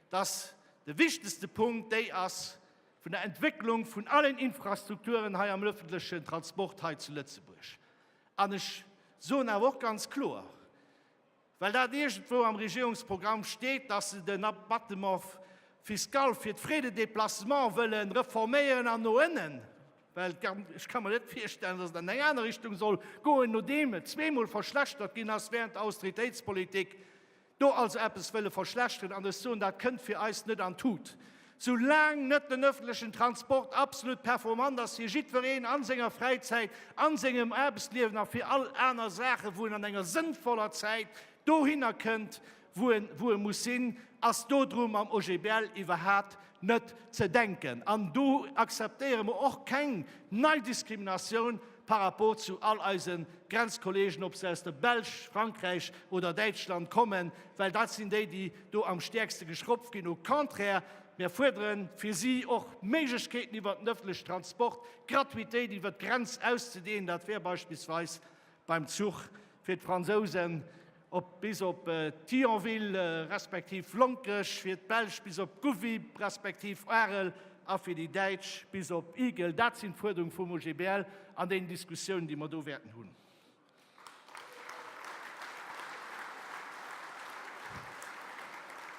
dass de wichtigste Punkt déi ass vun der Entwécklung vun allen Infrastrukturen hei am öffentlichen Transport hei zu Lëtzebuerg. An ech soen awer och ganz kloer, Well dat iergendwou am Regierungsprogramm steet, datt se den Abattement fiscal fir d'Frais de déplacement wëlle reforméieren an no ënnen, well ech ka mer net virstellen, datt et an eng aner Richtung soll goen, nodeem et zweemol verschlechtert ginn ass während der Austeritéitspolitik, do also eppes wëlle verschlechteren. An ech soen, dat kënnt fir eis net an d'Tut. Sou laang net den öffentlechen Transport absolut performant ass, fir jiddwereen an senger Fräizäit, an sengem Aarbechtsliewen a fir all aner Saachen, wou en an enger sënnvoller Zäit dohinner kënnt, wou e muss sinn, ass dodrun am OGBL iwwerhaat net ze denken. An do akzeptéiere mer och keng nei Diskriminatioun. par rapport zu all eise Grenzkolleegen, ob se aus der Belsch, Frankräich oder Däitschland kommen, well dat sinn déi, déi do am stäerkste geschroppt ginn. Au contraire, mir fuerdere fir si och Méiglechkeeten iwwert den öffentliche Transport, d'Gratuitéit iwwert d'Grenz auszudehnen, dat wär beispillsweis beim Zuch fir d'Fransousen, Op bis op Thionville respektiv Lonkech, fir d'Belsch bis op Gouvy respektiv Arel a fir déi Däitsch bis op Igel, dat sinn d'Fuerderunge vum OGBL an den Diskussiounen, déi mer do wäerten hunn.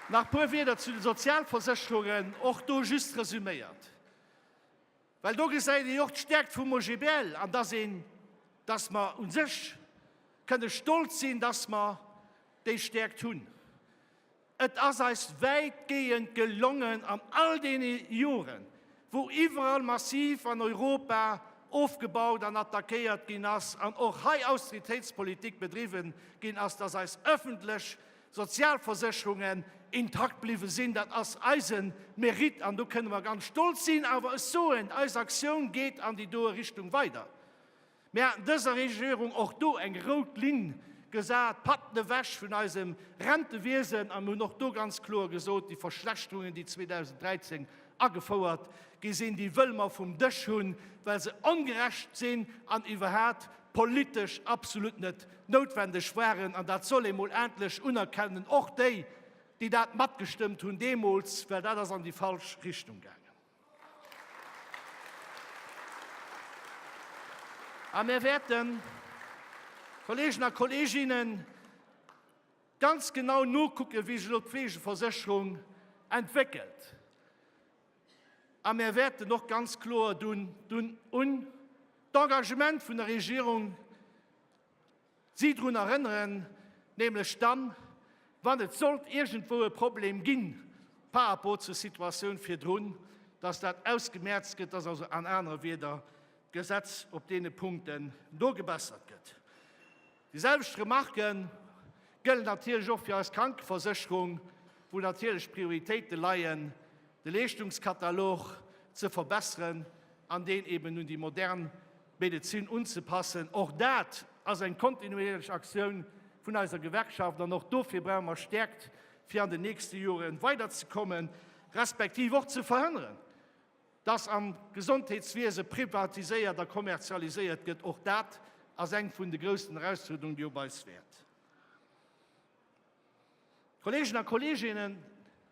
Nach e puer Wieder zu de Sozialversécherungen, och do just resuméiert. Well do gesäit ee jo och d'Stäerkt vum OGBL an dass een, dass mer u sech kënne stolz sinn, dass mer déi Stäerkt hunn. Et ass eis wäitgehend gelongen an all deene Joren, wou iwwerall massiv an Europa ofgebaut an attackéiert ginn ass an och hei Austeritéitspolitik bedriwwen ginn ass, dass eis öffentlech, Sozialversécherungen intakt bliwwe sinn. Dat ass eise Mérite an do kënne mer ganz stolz sinn. Awer ech soen, eis Aktioun geet an déi doe Richtung weider. Mir haten dëser Regierung och do eng rout Linn gesat, Patten ewech vun eisem Rentewiesen, a mir hunn och do ganz kloer gesot, déi Verschlechterungen, déi 2013 agefouert gi sinn, déi wëlle mer vum Dësch hunn, well se ongerecht sinn an iwwerhaapt politesch absolut net noutwendeg waren, an dat soll ee mol endlech unerkennen, och déi, déi dat matgestëmmt hunn deemools, well dat ass an déi falsch Richtung gaangen. A mir wäerten, Kolleegen a Kolleeginnen, ganz genau nokucken, wéi sech elo d'Fleegeversécherung entwéckelt. A mir wäerten och ganz kloer dunn un d'Engagement vun der Regierung Si drun erënneren, nämlech dann, wann et sollt iergendwou e Problem ginn par rapport zur Situatioun virdrun, dass dat ausgemerzt gëtt, dass also an anere Wieder d'Gesetz op deene Punkten do gebessert gëtt. Déi selwecht Remarque gëllen natierlech och fir eis Krankeversécherung, wou natierlech d'Prioritéite leien, de Leeschtungskatalog ze verbessern an deen eeben un déi modern Medezin unzepassen. Och dat ass eng kontinuéierlech Aktioun vun eiser Gewerkschaft an och dofir brauche mer Stäerkt, fir an den nächste Jore weiderzekommen, respektiv och ze verhënneren, dass am Gesondheetswiese privatiséiert a kommerzialiséiert gëtt. Och dat ass eng vun de groussen Erausfuerderungen, déi op eis wäert. Kolleegen a Kolleeginnen,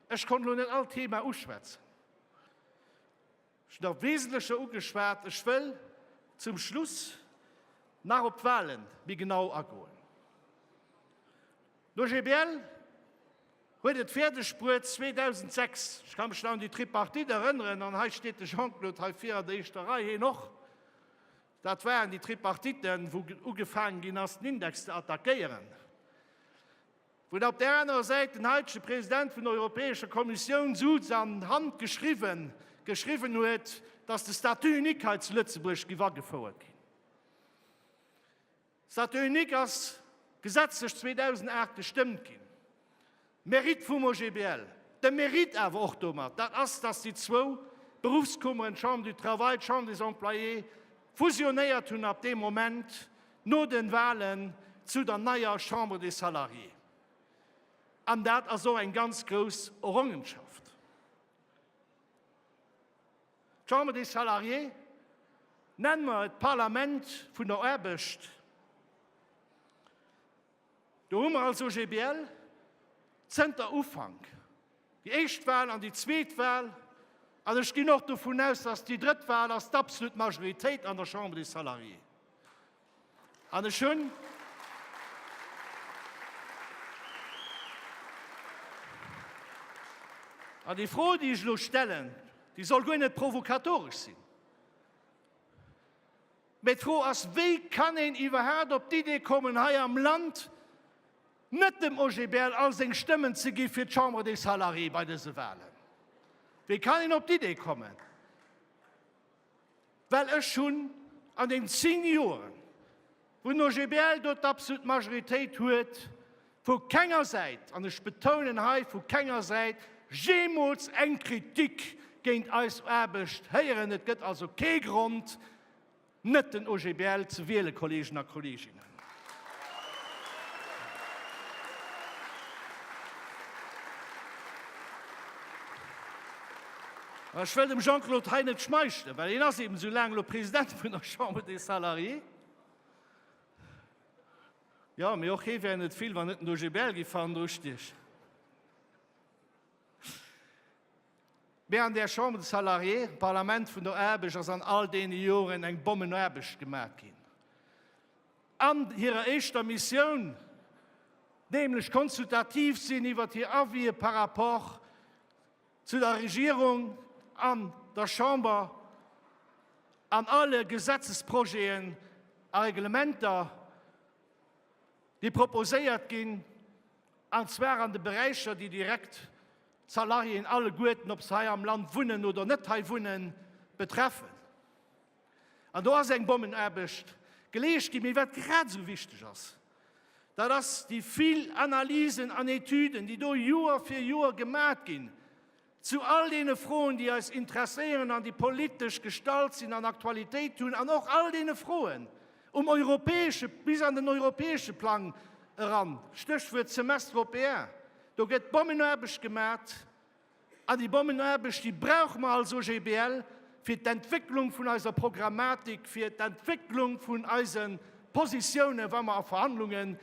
ech konnt elo net all Thema uschwätzen. Schon am Wesentlechen ugeschwat. Ech wëll zum Schluss nach op d'Wahlen méi genau agoen. D'OGBL huet et fäerdegbruet 2006, ech ka mech nach un déi Tripartite erënneren, an hei steet de Jean-Claude hei vir an der éischter Rei, hien och, dat waren déi Tripartiten, wou ugefaangen ginn ass, den Index ze attackéieren, Wou op där anerer Säit den heitege President vun der Europäescher Kommissioun Suz an d'Hand geschriwwen, geschriwwen huet, dass de Statut unique hei zu Lëtzebuerg giff agefouert ginn. Statut unique ass gesetzlech 2008 gestëmmt ginn. Mérite vum OGBL, de Mérite awer och domat, dat ass, dass déi zwou Berufskummeren, d'Chambre du Travail, d'Chambre des Employés, fusionéiert hunn ab deem Moment, No den Wahlen zu der neier Chambre des Salariés, an dat ass och eng ganz grouss Errongenschaft, d'Chambre des Salariés, nennen mer et d'Parlament vun der Aarbecht, Do hu mer als OGBL zënter Ufank déi éischt Wal an déi zweet Wal, an ech ginn och dovun aus, dass déi drëtt Wal ass d'absolut Majoritéit an der Chambre des Salariés. An ech hunn An déi Fro, déi ech elo stellen, déi soll guer net provokatoresch sinn. Mee d'Fro ass, Wéi kann een iwwerhaapt op d'Idee kommen, hei am Land net dem OGBL all seng Stëmmen ze gi fir d'Chambre des Salariés bei dëse Wahlen? Wéi kann een op d'Idee kommen? Well ech hunn an den zéng Joren, wou den OGBL do d'abslut Majoritéit huet, Vu kenger Säit, an ech betounen hei, vu kenger Säit, jeemools eng Kritik géint eis Aarbecht héieren. Et gëtt also kee Grond, net den OGBL ze wielen, Kolleegen a Kolleeginnen. An ech wëll dem Jean-Claude hei net schmeichelen, well hien ass eeben esou laang elo President vun der Chambre des Salariés. Jo, mee och hee wär net vill, wann net den OGBL géif fannen dru stiechen. Mee an där Chambre des Salariés, dem Parlament vun der Aarbecht, ass an all deene Joren eng Bommenaarbecht gemat ginn. An hirer éischter Missioun, nämlech konsultativ sinn iwwert hir Avie par rapport, Zu der Regierung an der Chamber, an alle Gesetzesprojeten a Reglementer, déi proposéiert ginn, an zwar an de Beräicher, déi direkt d'Salariéen alleguerten, ob se hei am Land wunnen oder net hei wunnen, betreffen. An do ass eng Bommenaarbecht geleescht ginn. Mee wat grad esou wichteg ass, dat ass déi vill Analysen an Etüden, déi do Joer fir Joer gemat ginn zu all deene Froen, déi eis interesséieren an déi politesch gestallt sinn an Aktualitéit hunn an och all deene Froen um europäesche, bis an den europäesche Plang eran, Stéchwuert Semestre européen. Do gëtt Bommenaarbecht gemat. A déi Bommenaarbecht, déi brauche mer als OGBL fir d'Entwécklung vun eiser Programmatik, fir d'Entwécklung vun eise Positiounen, wa mer a Verhandlunge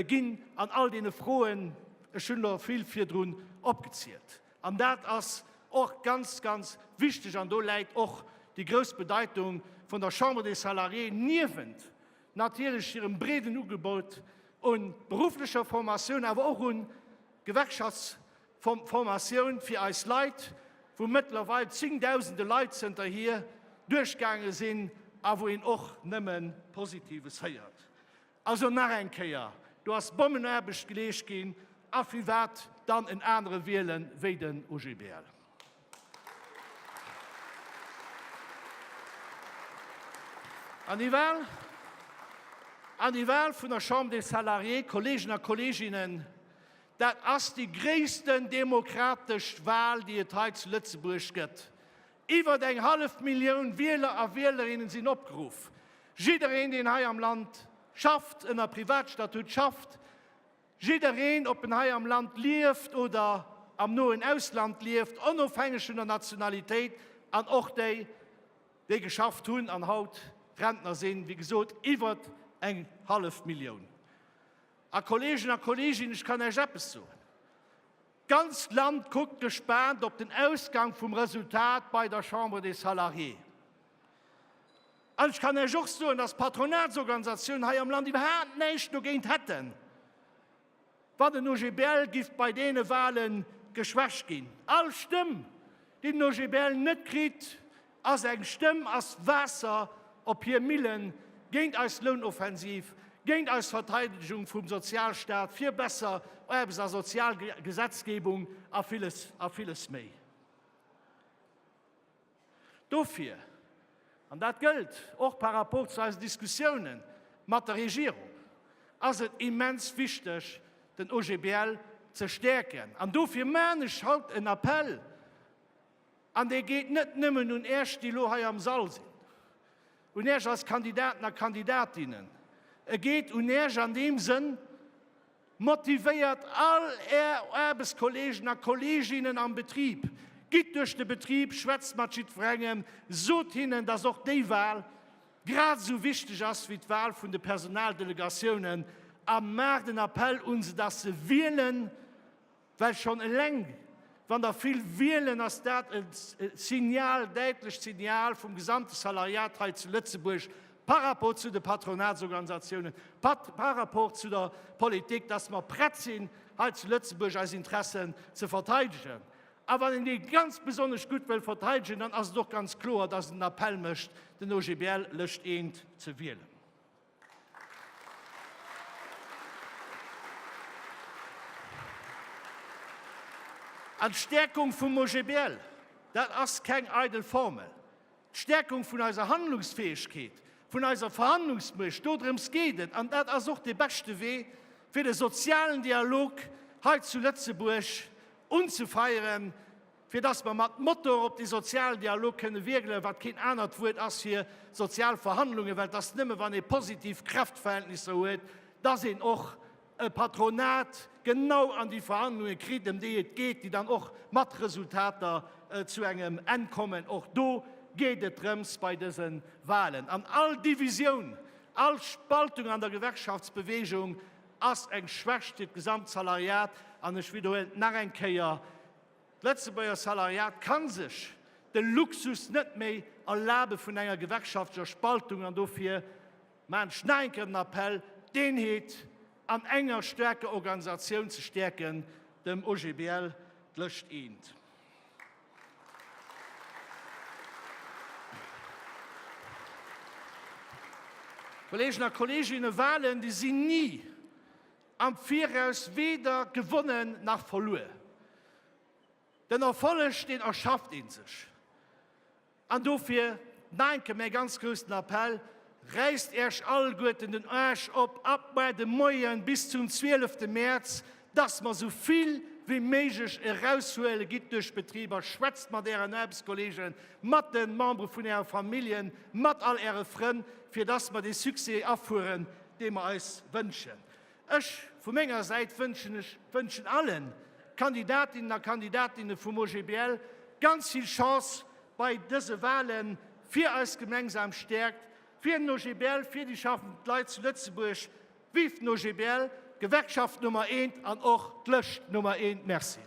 ginn an all deene Froen. Ech hunn elo vill virdrun opgezielt, an dat ass och ganz, ganz wichteg, an do läit och déi grouss Bedeitung vun der Chambre des Salariés, niewent natierlech hirem breeden Ugebot u berufflecher Formatioun, awer och u Gewerkschafts-, Formatioun fir eis Leit, wou mëttlerweil zéngdausende Leit zënterhier duerchgaange sinn a wou een och nëmme Positives héiert. Also nach eng Kéier, do ass Bommenaarbecht geleescht ginn a firwat dann en anere wielen wéi den OGBL? An déi Wahl vun der Chambre des Salariés, Kolleegen a Kolleeginnen, Dat ass déi gréissten demokratesch Wal, déi et hei zu Lëtzebuerg gëtt. Iwwert eng hallef Millioun Wieler a Wielerinnen sinn opgeruff. Jiddereen, deen hei am Land schafft, ënner Privatstatut schafft, jiddereen, ob en hei am Land lieft oder am noen Ausland lieft, onofhängeg vun der Nationalitéit, an och déi, déi geschafft hunn an haut Rentner sinn, wéi gesot, iwwert eng hallef Millioun. A Kolleegen a Kolleeginnen, ech kann Iech eppes soen, D'ganzt Land kuckt gespaant op den Ausgang vum Resultat bei der Chambre des Salariés. An ech kann Iech och soen, dass d'Patronatsorganisatiounen hei am Land iwwerhaapt näischt dogéint hätten, wann den OGBL giff bei deene Wahlen geschwächt ginn. All Stëmm, déi den OGBL net kritt, A seng Stëmm ass Waasser op hir Millen, géint eis Lounoffensiv, géint eis Verteidegung vum Sozialstaat, fir besser Aarbechts a Sozialgesetzgebung a villes, a villes méi. Dofir, an dat gëllt och par rapport zu eisen Diskussiounen mat der Regierung, ass et immens wichteg, den OGBL ze stäerken. An dofir maan ech haut en Appel, An dee geet net nëmmen un Äech, déi elo hei am Sall sinn, un Äech als Kandidaten a Kandidatinnen, e geet un Äech an deem Sënn, Motivéiert all Är Aarbechtskolleegen a Kolleginnen am Betrib, gitt duerch de Betrib, schwätzt mat jiddwerengem, sot hinnen, dass och déi Wahl grad esou wichteg ass wéi d'Wahl vun de Personaldelegatiounen a maacht en Appell un se, dass se wielen. Well schonn eleng wann der vill wielen, ass dat e Signal, däitlecht Signal vum gesamte Salariat hei zu Lëtzebuerg par rapport zu de Patronatsorganisatiounen, par rapport zu der Politik, dass mer prett sinn hei zu Lëtzebuerg eis Interessen ze verteidegen. A wann een déi ganz besonnesch gutt wëll verteidegen, dann ass et och ganz kloer, dass en den Appell mécht, den OGBL lëscht eent ze wielen. An d'Stäerkung vum OGBL, dat ass keng eidel Formel. D'Stäerkung vun eiser Handlungsfäegkeet, vun eiser Verhandlungsmuecht, dodrëms geet et, an dat ass och de beschte Wee, fir de sozialen Dialog hei zu Lëtzebuerg unzefeieren, fir dass mer mat Motor op de Sozialdialog kënne wierkelen, wat keen anert Wuert ass fir sozial Verhandlungen, well et ass nëmme wann ee positiv Kräftverhältnisser huet, dass een och e Patronat genau an déi Verhandlunge kritt, ëm déi et geet, déi dann och mat Resultater zu engem Enn kommen. Och do geet et drëms bei dëse Wahlen. An all Divisioun, all Spaltung an der Gewerkschaftsbewegung ass eng Schwächt fir d'Gesamtsalariat. An ech widderhuelen et nach eng Kéier, D'Lëtzebuerger Salariat ka sech de Luxus net méi erlabe vun enger gewerkschaftlecher Spaltung an dofir maachen ech nach eng Kéier den Appell, d'Eenheet an enger staarker Organisatioun ze stäerken, dem OGBL d'Lëscht eent. Kolleegen a Kolleeginne, Wahlen déi sinn ni Am Viraus weder gewonnen nach verluer. Den Erfolleg deen erschafft een sech. An dofir nach eng Kéier mäi ganz groussen Appell, Räisst Äech alleguerten den Aarsch op ab muer de Moien bis zum 12 te Mäerz, dass mer esou vill wéi méiglech eraushuelen. Gitt duerch d'Betriber, schwätzt mat Ären Aarbechtskolleegen, mat de Membere vun Äre Familljen, mat all Äre Frënn, fir dass mer dee Succès afueren. dee mer eis wënschen. Ech vu menger Säit wënschen ech wënschen alle Kandidatinnen a Kandidatinne vum OGBL ganz vill Chance bei dëse Wahlen, fir eis gemengsam Stäerkt, fir den OGBL, fir déi schaffend Leit zu Lëtzebuerg. Vive den OGBL, d'Gewerkschaft Nummer eent an och d'Lëscht Nummer eent! Merci.